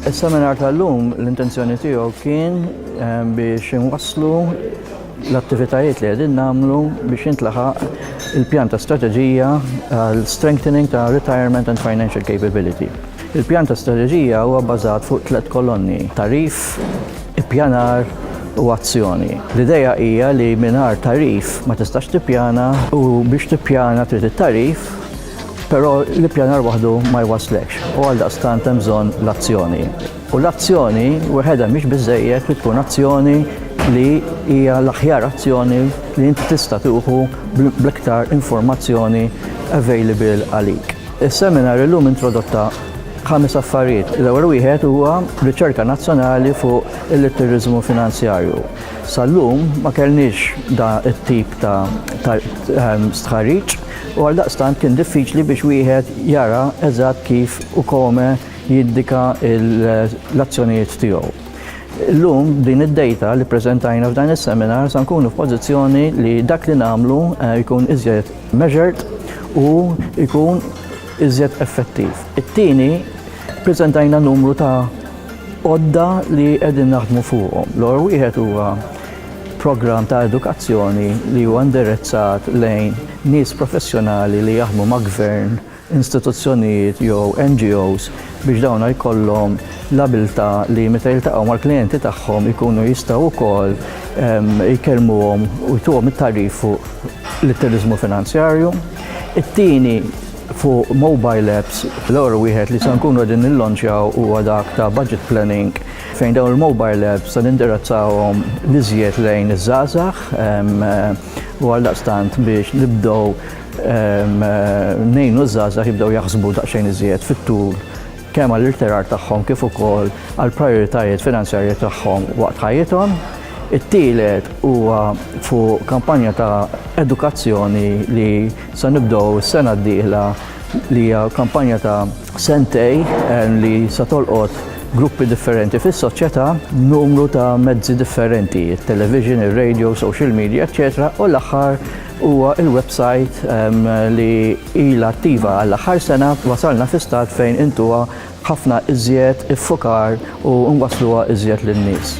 Is-seminar tal-lum l-intenzjoni tiegħu kien eh, biex inwasslu l-attivitajiet li għedin namlu biex jintlaħaq il-pjan ta' strategija għal strengthening ta' retirement and financial capability. Il-pjan ta' strateġija huwa bbażat fuq tliet kolonni, tagħrif, ippjanar u azzjoni. L-idea hija li mingħajr tagħrif ma tistax tippjana u biex tippjana trid it-tagħrif, però l-ippjanar waħdu ma jwasslekx u għaldaqstant hemm bżonn l-azzjoni. U l-azzjoni weħedha mhix biżżejjed, trid tkun azzjoni li hija l-aħjar azzjoni li inti tista' tieħu bl-iktar informazzjoni available għalik. Is-seminar illum introdotta ħames affarijiet. L-ewwel wieħed huwa riċerka nazzjonali fuq il-litteriżmu finanzjarju. Sal-lum ma kellniex da it-tip ta' ehm, stħarriġ u għaldaqstant kien diffiċli biex wieħed jara eżatt kif u kome jiddika l-azzjonijiet tiegħu. Illum din id-data li preżentajna f'dan is-seminar sa nkunu f'pożizzjoni li dak li nagħmlu eh, jkun iżjed measured u jkun iżjed effettiv. It-tieni, preżentajna numru ta' għodda li qegħdin naħdmu fuqhom. L-ewwel wieħed huwa programm ta' edukazzjoni li huwa indirizzat lejn nies professjonali li jaħdmu ma' gvern istituzzjonijiet jew NGOs biex dawna jkollhom l-abiltà li meta jiltaqgħu mal-klijenti tagħhom ikunu jistgħu wkoll jkellmuhom u jtuhom it-tagħrif fuq l-turiżmu finanzjarju. It-tieni fuq mobile apps, l-ewwel wieħed li se nkunu qegħdin nillonċjaw huwa dak ta' budget planning fejn dawn il-mobile apps se nindirizzawhom l-iżjed lejn iż-żgħażagħ u għaldaqstant biex nibdew Ngħinu ż-żgħażagħ jibdew jaħsbu daqsxejn iżjed fit-tul kemm għall-irtirar tagħhom kif ukoll għall-prijoritajiet finanzjarji tagħhom waqt ħajjithom. It-tielet huwa fuq kampanja ta' edukazzjoni li se nibdew is-sena d-dieħla li hija kampanja ta' sentej li se tolqot gruppi differenti fis-soċjetà b'numru ta' mezzi differenti, it-television, ir-radio, social media, eċċetera u l-aħħar Huwa l-websajt li ilha attiva għall-aħħar sena, wasalna fi stat fejn intuha b'ħafna iżjed iffukar u nwassluha iżjed lin-nies.